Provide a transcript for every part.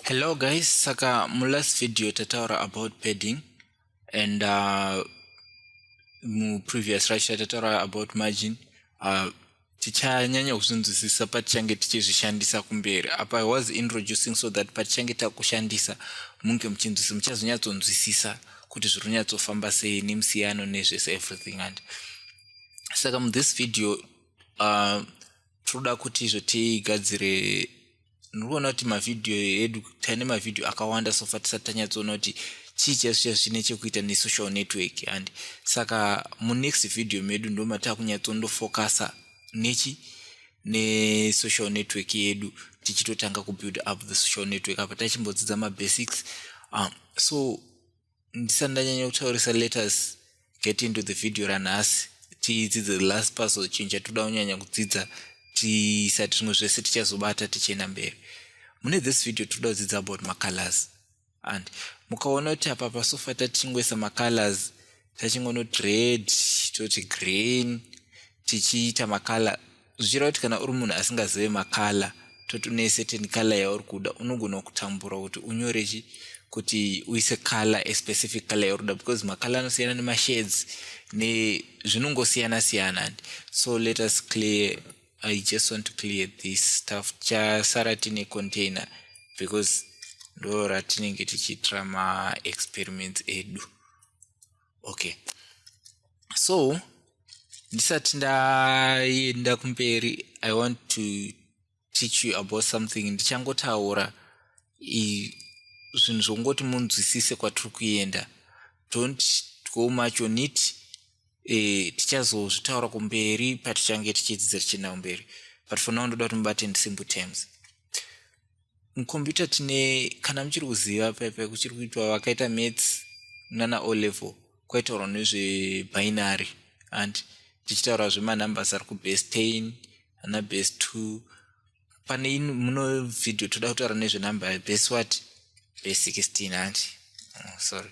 hello guys saka mulast video tataura about padding and uh, muprevious racho tataura about margin uh, tichanyanya kuzvinzwisisa patichange tichizvishandisa kumberi apa was introducing so that patichange takushandisa munge muchinzwisisa muchazonyatsonzwisisa kuti zviri kunyatsofamba sei nemusiyano nezvese everything and saka muthis video uh, tinoda kuti izvo tigadzire ndirikuona kuti mavhidhiyo edu taine mavhidhiyo akawanda sofa tisati tanyatsoona kuti chii chaiso chaiso chine chekuita nesocial network and saka munext vhidhiyo medu ndomataa kunyatsondofocusa nechi nesocial network yedu tichitotanga kubuild up the social network apa tachimbodzidza mabasics um, so ndisati ndanyanya kutaurisa letus get into the video ranhasi tidzidze the last puzzle chinhu chatinoda kunyanya kudzidza tisati zvimwe zvese tichazobata tichienda mberi mune this video tinoda kudzidza about macolors and mukaona kuti apa pasofa tatingoisa macolors tachingonoti red toti green tichiita macolor zvichireva kuti kana uri munhu asingazive makala toti une certain kala yauri kuda unogona kutambura kuti unyore chi kuti uise kala especific kala yauri kuda because makala anosiyana nemashades nezvinongosiyana siyana and so let us clear i just want to clear this stuff chasara tine container because ndo ratinenge tichiitira maexperiments edu okay so ndisati ndaenda kumberi i want to teach you about something ndichangotaura zvinhu zvokungoti munzwisise kwatiri kuenda don't go much on it eh, tichazozvitaura kumberi patichange tichidzidza tichienda kumberi but for now ndoda kuti mubate ndisimple terms mucomputer tine kana muchiri kuziva pepe kuchiri kuitwa vakaita mats nana o level kwaitaurwa nezvebinary and tichitaura zvemanumbers ari kubase ten ana base two pane muno vhidhio toda kutaura nezvenumber yebase wat base sixteen hanti oh, sorry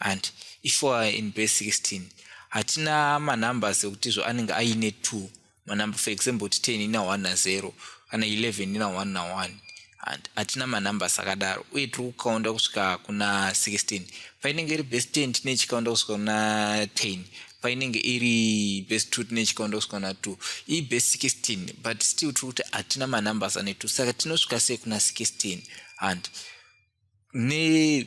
and if u are in base 16 hatina manumbers ekuti zvo anenge aine two manumber for example kuti ten ina one nazero kana eleven ina one na one and hatina manumbers akadaro uye tiri kukaunda kusvika kuna 16 painenge iri base ten tine chikaunda kusvika kuna ten painenge iri base two tine chikaunda kusvika kuna two ii base 16 but still tiri kuti hatina manumbers ane two saka tinosvika sei kuna 16 and ne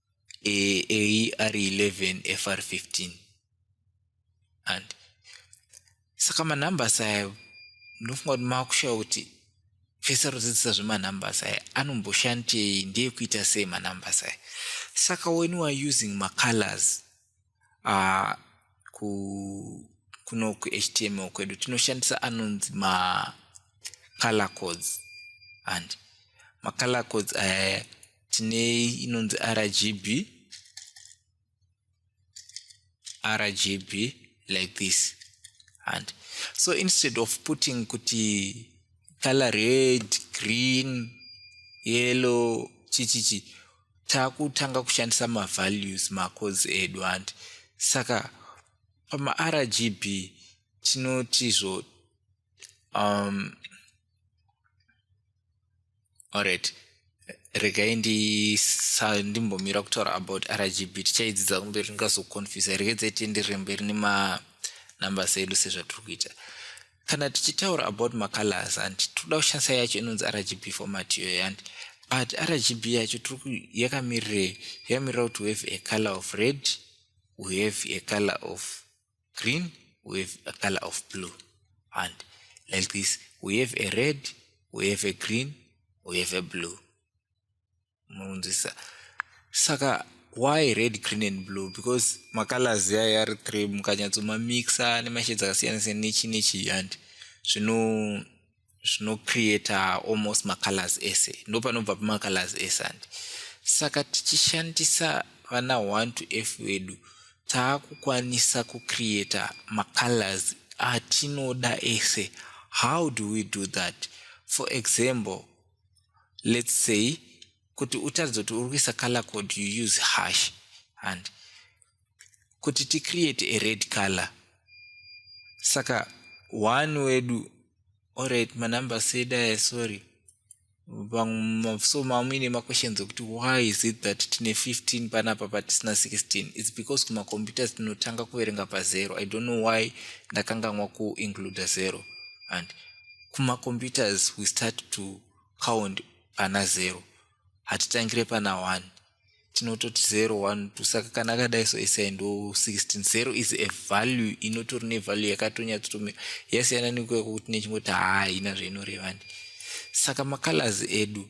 eyi ari 11 fr 15 and saka manumbers aya ndinofunga kuti makushaya kuti fese rodzidzisa zvemanumbers aya anomboshandei ndeyekuita sei manumbers aya saka when weare using macolors uh, ku kuno kuhtml kwedu tinoshandisa anonzi macolor codes and macolor codes aya uh, tine inonzi rgb rgb like this and so instead of putting kuti color red green yellow chichichi takutanga kushandisa mavalues macodes edu handi saka pamargb tinotizvo um, alright regai ndimbomira kutaura about rgb tichaidzidza kumberi ndingazoconfuse regedzai tienderere mberi nemanumbers edu sezvatiri kuita kana tichitaura about macolors handi tikuda kushandisa yacho inonzi rgb format iyoyo handi but rgb yacho tiri yakamirirei yakamirira kuti we have a color of red we have a color of green we have a color of blue and like this we have a red we have a green we have a blue munzwisa saka why red green and blue because macolors ayo ari three mukanyatsomamixa nemashades akasiyana siyana nechi nechi handi zvino zvinocreata almost macolors ese ndo panobva pamacolors ese handi saka tichishandisa vana one to f wedu taakukwanisa kucreata macolors atinoda ese how do we do that for example let's say kuti utaridze kuti uri kuisa color code you use hash and kuti ticreate a red color saka one wedu orit manumber sedaya sorry so mamuine maquestions okuti why is it that tine 15 panapa patisina 16 its because kumacomputers tinotanga kuverenga pazero i don't know why ndakanganwa kuincluda zero and kumacomputers we start to count pana zero hatitangire pana one tinototi zero one two saka kana akadai so isai ndo 16 zero is a value inotori nevalue yakatonyatsotomira yasiyana nekuya kwekuti nechingoti haina zvainorevani saka macolors edu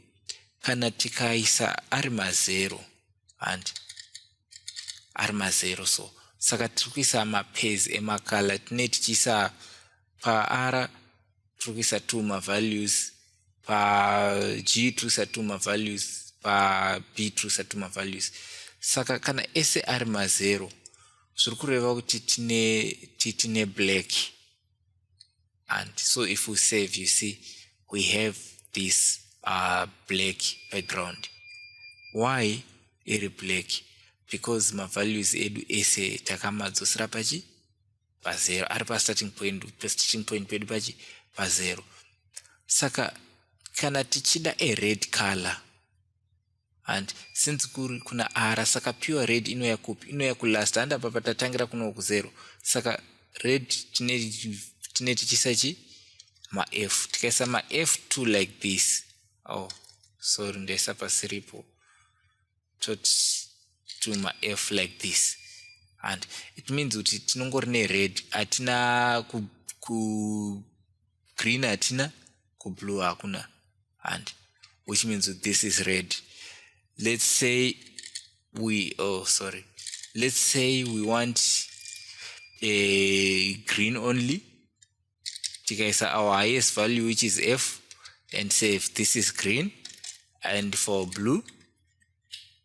kana tikaisa ari mazero handi ari mazero so saka tiri kuisa mapezi emakala tine tichiisa paR tiri kuisa two mavalues, paG tiri kuisa two mavalues, paB tiri kuisa two mavalues. Saka kana ese ari mazero zviri kureva kuti tine tine black and so if we save you see we have this uh, black background why iri black because mavalues edu ese takamadzosera pachi pazero ari pastarting point pastarting point pedu pachi pazero saka kana tichida a red color and since kuri kuna ara saka pure red inouya kupi inouya kulast handi apa patatangira kuno kuzero saka red tine tichisa chi maf tikaisa maf2 like this oh sorry ndaisa pasiripo totuma f like this and it means kuti tinongori nered hatina kugreen ku hatina kublue hakuna and which means that this is red let's say we oh sorry let's say we want a green only tikaisa our highest value which is f and say if this is green and for blue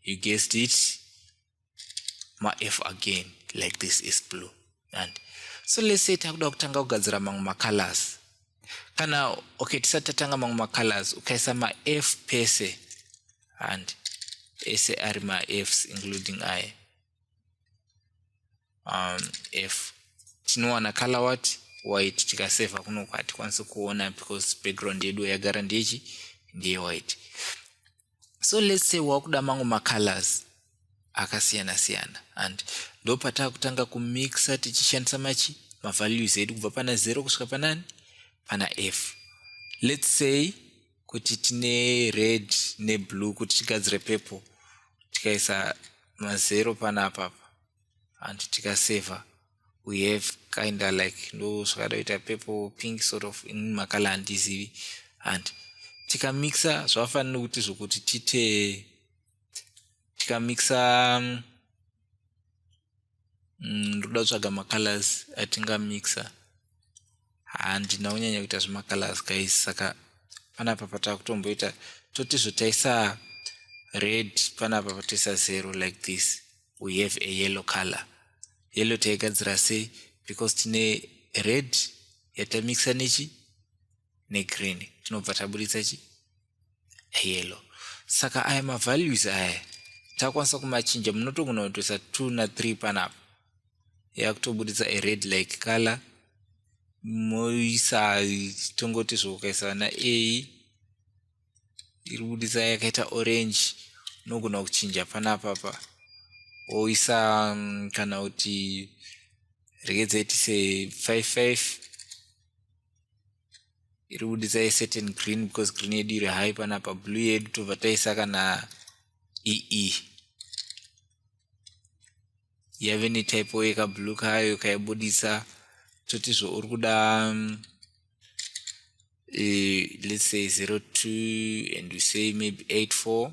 you guessed it ma f again like this is blue and so let's say takuda kutanga kugadzira mamwe macolors kana okay tisati tatanga mamwe macolors ukaisa ma f pese and ese ari ma fs including i um, f tinowana color what white tikaseva kunoko hatikwanisi kuona because background yedu yagara ndechi ndeye white so let's say wakuda mango macolors akasiyana siyana and ndopatava kutanga kumixa tichishandisa machi mavalues edu kubva pana 0 kusvika panani pana f let's say kuti tine red neblue kuti tigadzire purple tikaisa mazero panapa apa and tikaseva we have kinda like ndo zvakada kuita purple pink sort of in makala handizivi and tikamixa zvavafanira kuti zvokuti tite tikamixa um, mm, ndoda kutsvaga macolors atingamixa handina kunyanya kuita zvemacolors guys saka panapa patakutomboita toti zvotaisa red panapa patoisa zero like this we have a yellow color yellow taigadzira sei because tine red yatamixa nechi negreen tinobva taburitsa chi yellow saka aya mavalues aya takwanisa kumachinja munotogona kutoisa two na three panapa yakutoburitsa a red like color moisa tongoti zvokaisa na a iri buditsa yakaita orange unogona kuchinja panapa pa oisa mm, kana kuti rekedza iti se 55 iri kudisa a certain green because green yedu iri high panapa blue yedu tobva taisa kana ee yave netypo yekablue kayo kaibudisa totizvo uri kuda um, uh, let's say 02 and we say maybe 84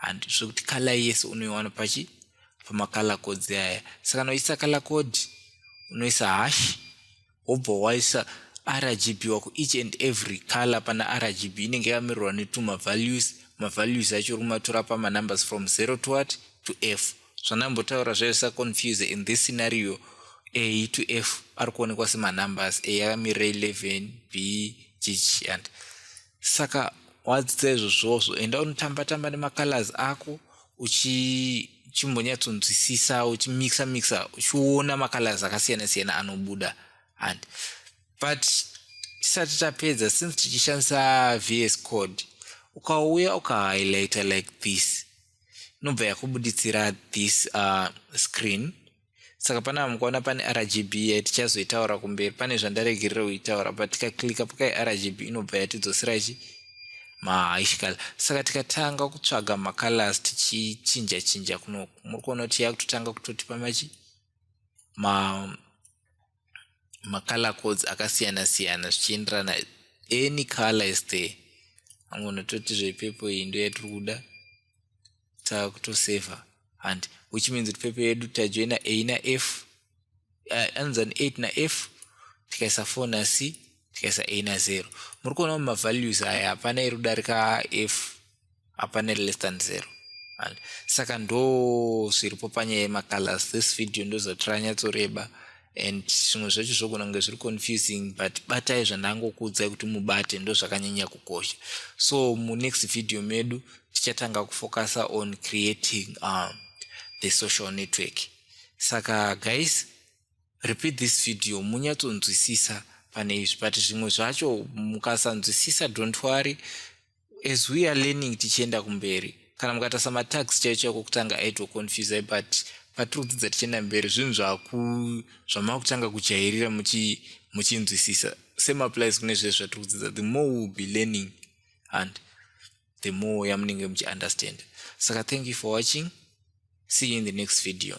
and zvekuti color yese unoiwana pachi pamacolor codes aya saka unoisa color code unoisa hash wobva waisa rgb wako each and every color pana rgb inenge yakamirwa netuma values mavalues acho uri kumatora pamanumbers from 0 to what to f zvandambotaura zvaisa confuse in this scenario a to f ari kuonekwa semanumbers a yakamirira 11 b gh and saka wadzidza izvozvozvo enda unotamba tamba nemacolors ako uchichimbonyatsonzwisisa uchimixa mixa uchiona macolors akasiyana siyana anobuda and but tisati tapedza since tichishandisa vs code ukauya ukahighlighter like this inobva yakubuditsira this uh, screen saka panapa mukaona pane rgb yatichazoitaura kumberi pane zvandaregerera kuitaura but tikaklika pakai rgb inobva yatidzosera chi mahaishikala saka tikatanga kutsvaga macolors tichichinja chinja kunoku muri kuona kuti yakutotanga kutotipa machi ma macolor codes akasiyana siyana zvichienderana any color is there amwe unototi zvepepo iyi ndo yatiri kuda takutoseva and which means kuti pepo yedu tajoina a na f eh, anzi an eight na f tikaisa four na c tikaisa a na zero muri kuona mumavalues aya hapana iri kudarika f hapane less than zero and saka ndo zviripo panyaya yemacolors this video ndozatira nyatsoreba and zvimwe zvacho zvogona kunge zviri confusing but batai zvandangokuudzai kuti mubate ndo zvakanyanya kukosha so munext video medu tichatanga kufocusa on creating um, the social network saka guys repeat this video munyatsonzwisisa pane izvi but zvimwe zvacho mukasanzwisisa don't worry as we are learning tichienda kumberi kana mukatasa matax chaicho yakokutanga aitoconfuse but patiri kudzidza tichienda mberi zvinhu zvamavakutanga kujairira muchinzwisisa same applies kune zvese zvatiri kudzidza the more will be learning and the more yamunenge muchiunderstand saka thank you for watching see you in the next video